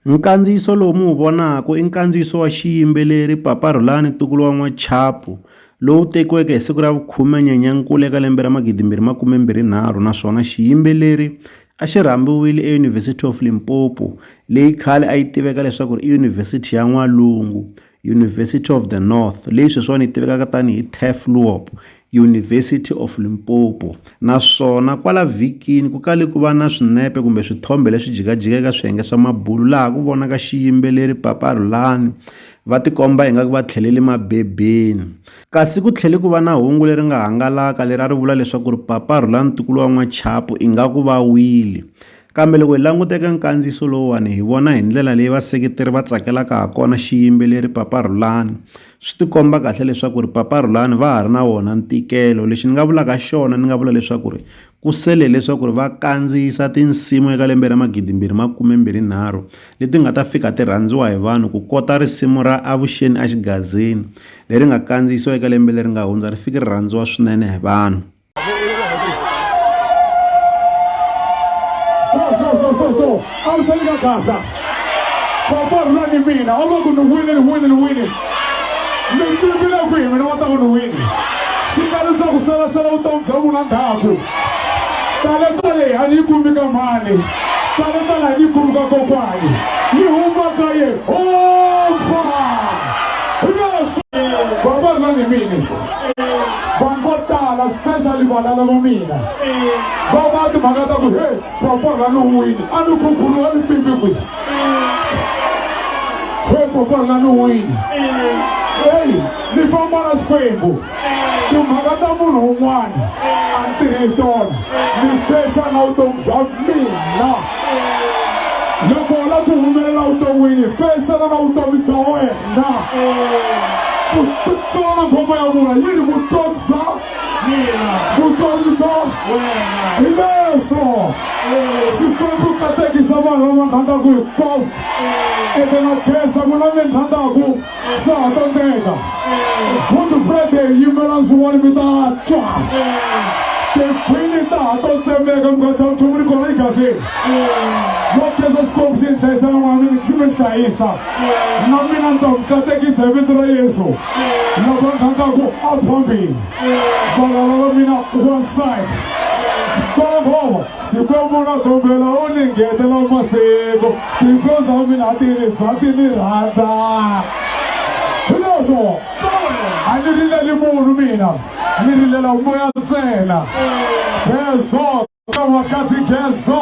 Nkandziyiso lowu mi wu vonaka i nkandziyiso wa xiyimbeleri Papa Rhulani ntukulu wa N'wachapu lowu tekiweke hi siku ra vu khume Nyenyankulu eka lembe ra magidi mbirhi makume mbirhi nharhu naswona xiyimbeleri a xi rhambiwile eUniversity of Limpopo leyi khale a yi tiveka leswaku ri i University ya N'walungu University of the North, leyi sweswiwani yi tivekaka tani hi Tufloop, University of Limpopo, naswona kwala vhikini ku kale ku va na swinepe kumbe swithombe leswi jikajika eka swiyenge swa mabulu laha ku vonaka xiyimbeleri Papa Rhulani va tikomba ingaku va tlhelele mabebeni. Kasi ku tlhele ku va na hungu leri nga hangalaka leri a ri vula leswaku ri Papa Rhulani Ntukulu wa N'wachapu ingaku va wile. Kambe loko hi languta eka nkandziyiso lowuwani hi vona hi ndlela leyi vaseketeri va tsakelaka ha kona xiyimbeleri Papa Rhulani. Swi tikomba kahle leswaku ri Papa Rhulani va ha ri na wona ntikelo. Lexi ni nga vulaka xona ni nga vula leswaku ri ku sele hileswaku ri va kandziyisa tinsimu eka lembe ra magidimbirhi makumembirhinharhu leti nga ta fika ti rhandziwa hi vanhu ku kota risimu ra Avuxeni a Xigazini leri nga kandziyisiwa eka lembe leri nga hundza ri fiki ri rhandziwa swinene hi vanhu. so so so so so a wu tsheni ka gaza papa rhula ni mina a va ku ni wini ni wini ni wini mi tivile ku hi mina wa ta ku ni wini swi nga leswaku salasala vutomi bya n'wina ndhaku tale tale a ni yi kumi ka mhani tale tale a ni yi kumi ka kokwani yi huma ka ye opa papa rhula ni mina vanhu vo tala specially vana lava mina va va timhaka ta ku he popo ra ni wini a ni khukhulu wa ni pipi kwi he popo ra ni wini eyi ni famba na xikwembu timhaka ta munhu un'wana a ni tirhi hi tona ni fesa na vutomi bya mina loko u la ku humelela vuton'wini fesana na vutomi bya wena nga kutsona ngoma ya vula yi ri vutomi bya vutomi bya hi leswo xikwembu katekisa vanhu lava rhandzaku hinkwavo ende na khesa n'wina mi rhandzaku swa ha tsandzeka good friday yimela swin'wana mi ta twa tikhwini ta ha to tsemeka mi nga tshama nchumu ni kona egazini yo khesa xikwembu xi ni hlayisa na n'wana mi ni hlayisa na mina ni ta ku katekisa hi vito ra yesu loko a kha ta ku a phambili valala va mina one side Jehovah sikwemuna kombela u ni ngetela masiku tinhlo za mina a ti ni za ti ni rhandza hileswo a ni rileli munhu mina ni rilela moya ntsena jesu ka wakati jesu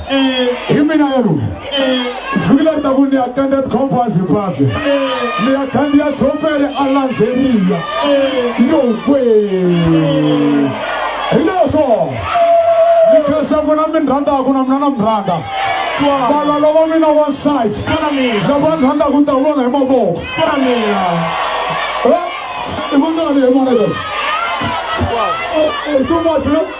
hi mina yellow vhiki leri taku ni attended conference ripabye ni ya khandiya tshompele a landzeriya yokwe hi leswo ni khensa n'wina mi ni rhandaku na mina na mi rhandza vana lava mina wanside lava ni rhandaku ni ta ku vona hi mavoko i vona hi vona so much